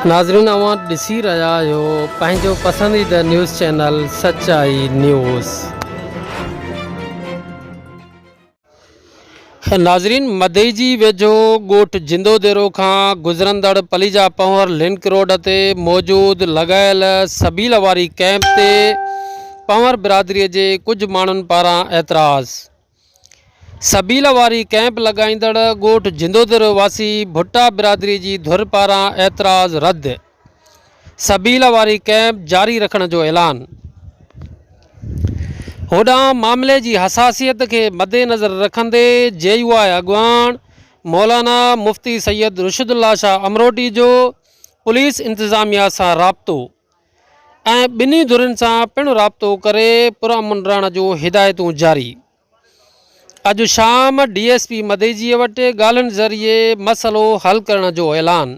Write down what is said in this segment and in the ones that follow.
ناظرين اوهان ڏسي رهيا آهيو پنهنجو پسنديده نيوز چينل سچائي نيوز. ناظرين مدئي جي ويجهو ڳوٺ جندو ديرو کان گذرندڙ پليجا پنهور لنڪ روڊ تي موجود لڳايل سبيل واري ڪئمپ تي پنهور برادري جي ڪجهه ماڻهن پاران اعتراض. سبيل واري ڪئمپ لڳائيندڙ ڳوٺ جندودر واسي ڀٽا برادري جي ڌر پاران اعتراض رد، سبيل واري ڪئمپ جاري رکڻ جو اعلان. هوڏانهن معاملي جي حساسيت کي مدنظر رکندي جي يو آء اڳواڻ مولانا مفتي سيد رشدالله شاهه امروٽي جو پوليس انتظاميا سان رابطو. ۽ ٻنهي ڌرين سان پڻ رابطو ڪري پرامن رهڻ جو هدايتون جاري اڄ شام ڊي ايس پي مديجي وٽ ڳالهين ذريعي مسئلو حل ڪرڻ جو اعلان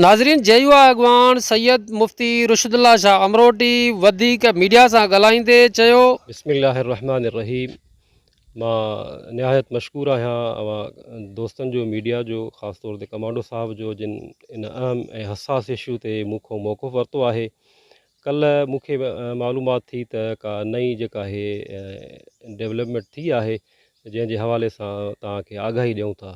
ناظرين جي يو آء اڳواڻ سيد مفتي رشد الله شاهه امروٽي وڌيڪ ميڊيا سان ڳالهائيندي چيو بسم الله الرحمن الرحيم مان نهايت مشڪور آهيان اوهان دوستن جو ميڊيا جو خاص طور تي ڪمانڊو صاحب جو جن ان اهم ۽ حساس اشو تي مون کان موقف ورتو آهي ڪلهه مون کي معلومات ٿي ته ڪا نئين جيڪا اهي ڊيولپمينٽ ٿي آهي جنهن جي حوالي سان توهان کي آگاهي ڏيون ٿا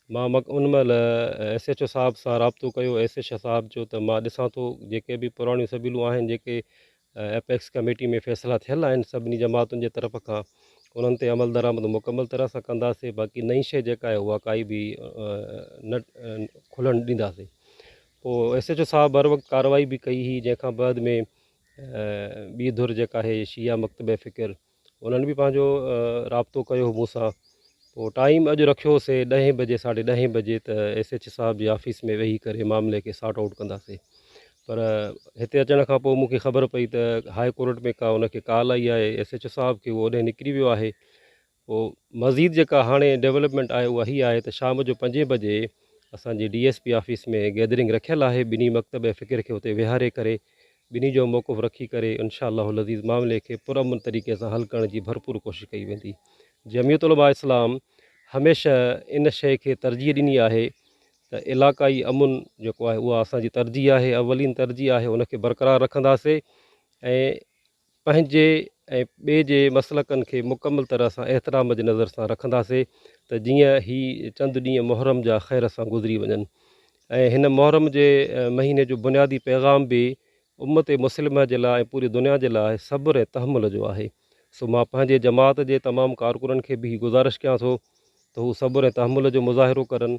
مان ان مهل ايس ايچ او صاحب سان رابطو ڪيو ايس ايچ او صاحب جو ته مان ڏسان ٿو جيڪي به پراڻيون سبيلون آهن جيڪي ايپڪس ڪميٽي ۾ فيصلا ٿيل آهن سڀني جماعتن جي طرف کان انهن تي عملدرآمد مڪمل طرح سان ڪنداسين باقي نئين شيء جيڪا آهي اها ڪائي به نه کلڻ ڏينداسين پوء ايس ايچ او صاحب هر وقت ڪارروائي به ڪئي هئي جنهن کان بعد ۾ ٻي ڌر جيڪا آهي شيعا مڪتبه فڪر انهن به پنهنجو رابطو ڪيو هو مون سان پوء ٽائيم اڄ رکيو هو سي ڏهين بجي ساڍي ڏهين بجي ته ايس ايڇ صاحب جي آفيس ۾ ويهي ڪري معاملي کي سارٽ آئوٽ ڪندا سي پر هتي اچڻ کان پوء مون کي خبر پئي ته هاء ڪورٽ ۾ ڪا ان کي ڪال آئي آهي ايس ايڇ او صاحب کي هو اوڏهين نڪري ويو آهي پوء مزيد جيڪا هاڻي ڊيولپمينٽ آهي اها هي آهي ته شام جو پنجين بجي اسان جي D S P office ۾ gathering رکيل آهي ٻنهي مڪتب فڪر کي اتي ويهاري ڪري ٻنهي جو موقف رکي ڪري انشاء الله العزيز معاملي کي پرامن طريقي سان حل ڪرڻ جي ڀرپور ڪوشش ڪئي ويندي جمعيت علماء اسلام هميشه ان شيء کي ترجيح ڏني آهي ته علاقائي امن جيڪو آهي اها اسان جي ترجيح آهي اولين ترجيح آهي ان کي برقرار رکنداسين ۽ پنهنجي ۽ ٻئي جي مسلڪن کي مڪمل طرح سان احترام جي نظر سان رکنداسين ته جيئن هي چند ڏينهن محرم جا خير سان گذري وڃن ۽ هن محرم جي مهيني جو بنيادي پيغام به امت مسلمه جي لاء ۽ پوري دنيا جي لاء صبر ۽ تحمل جو آهي سو مان پنهنجي جماعت جي تمام ڪارڪنن کي به هي گذارش ڪيان ٿو ته هو صبر ۽ تحمل جو مظاهرو ڪرن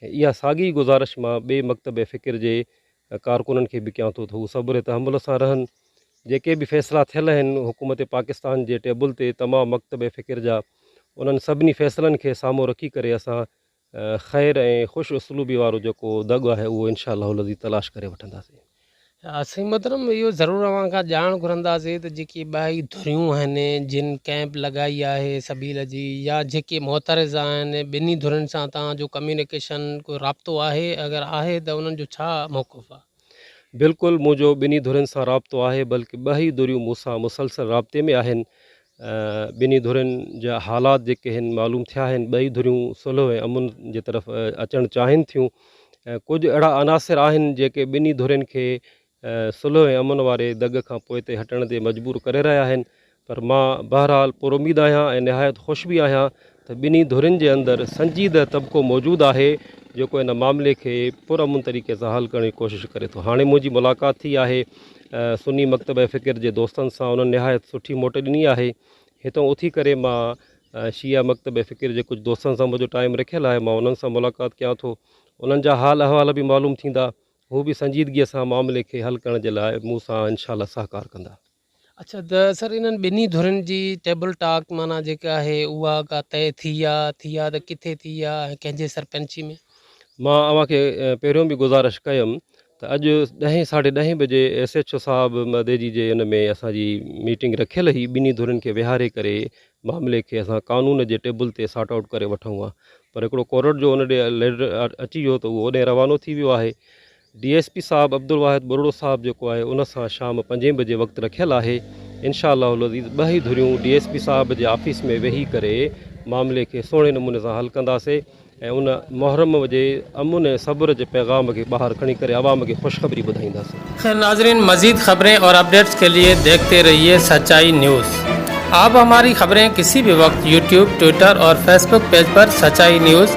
اها ساڳي گذارش مان ٻئي مڪتب فڪر جي ڪارڪنن کي به ڪيان ٿو ته هو صبر تحمل سان رهن. جيڪي به فيصلا ٿيل آهن حڪومت پاڪستان جي ٽيبل تي تمام مڪتب فڪر جا انهن سڀني فيصلن کي سامهون رکي ڪري اسان خير ۽ خوش اسلوبي وارو جيڪو دڳ آهي اهو انشاء الله العزيز تلاش ڪري وٺنداسين. سائين محترم اهو ضرور اوهان کان ڄاڻ گهرنداسين ته جيڪي ٻاهي ڌريون آهن جن ڪئمپ لڳائي آهي سبيل جي يا جيڪي معترض آهن ٻنهي ڌرين سان توهان جو ڪميونيڪيشن ڪو رابطو آهي اگر آهي ته انهن جو ڇا موقف آهي. بلڪل منهنجو ٻنهي ڌرين سان رابطو آهي بلڪ ٻهي ڌريون مون سان مسلسل رابطي ۾ آهن ٻنهي ڌرين جا حالات جيڪي هن معلوم ٿيا آهن ٻئي ڌريون صلح ۽ امن جي طرف اچڻ چاهين ٿيون ڪجهه اهڙا عناصر آهن جيڪي ٻنهي ڌرين کي صلح ۽ امن واري دڳ کان پوئتي هٽڻ تي مجبور ڪري رهيا آهن پر مان بهرحال پراميد آهيان ۽ نهايت خوش به آهيان ته ٻنهي ڌرين جي اندر سنجيده طبقو موجود آهي جيڪو ان معاملي کي پر امن طريقي سان حل ڪرڻ جي ڪوشش ڪري ٿو هاڻي منهنجي ملاقات ٿي آهي سني مڪتبه فڪر جي دوستن سان انهن نهايت سٺي موٽ ڏني آهي هتئون اٿي ڪري مان شيعه مڪتبه فڪر جي ڪجهه دوستن سان منهنجو ٽائيم رکيل آهي مان انهن سان ملاقات ڪيان ٿو انهن جا حال احوال به معلوم ٿيندا هو به سنجيدگي سان معاملي کي حل ڪرڻ جي لاء مون سان انشاء الله سهڪار ڪندا. اڇا ته سر انهن ٻنهي ڌرين جي ٽيبل ٽاڪ معنيٰ جيڪا آهي اها ڪا طئي ٿي آ ٿي آ ته ڪٿي ٿي آ ۽ ڪنهن جي سرپنچي ۾؟ مان اوهان کي پهريون به گذارش ڪيم ته اڄ ڏهين ساڍي ڏهين بجي ايس ايڇ او صاحب مهديجي جي ان ۾ اسان جي ميٽنگ رکيل هئي ٻنهي ڌرين کي ويهاري ڪري معاملي کي اسان قانون جي ٽيبل تي سارٽ آئوٽ ڪري وٺون ها پر هڪڙو ڪورٽ جو ان ڏي ليڊر اچي ويو ته اهو اوڏانهن روانو ٿي ويو آهي ڊي ايس پي صاحب عبدالواحد ٻرڙو صاحب جيڪو آهي ان سان شام پنجين بجي وقت رکيل آهي انشاء الله العزيز ٻه ئي ڌريون ڊي ايس پي صاحب جي آفيس ۾ ويهي ڪري معاملي کي سهڻي نموني سان حل ڪنداسي ۽ ان محرم جي امن ۽ صبر جي پيغام کي ٻاهر کڻي ڪري عوام کي خوشخبري ٻڌائينداسي. خير ناظرين مزيد خبرين اور اپڈيٽس کے لئے ديکھتے رھيئي سچائي نيوز آپ ھماري خبرين کسي بھي وقت يوٽيوب ٽوئيٽر اور فيس بڪ پيج پر سچائي نيوز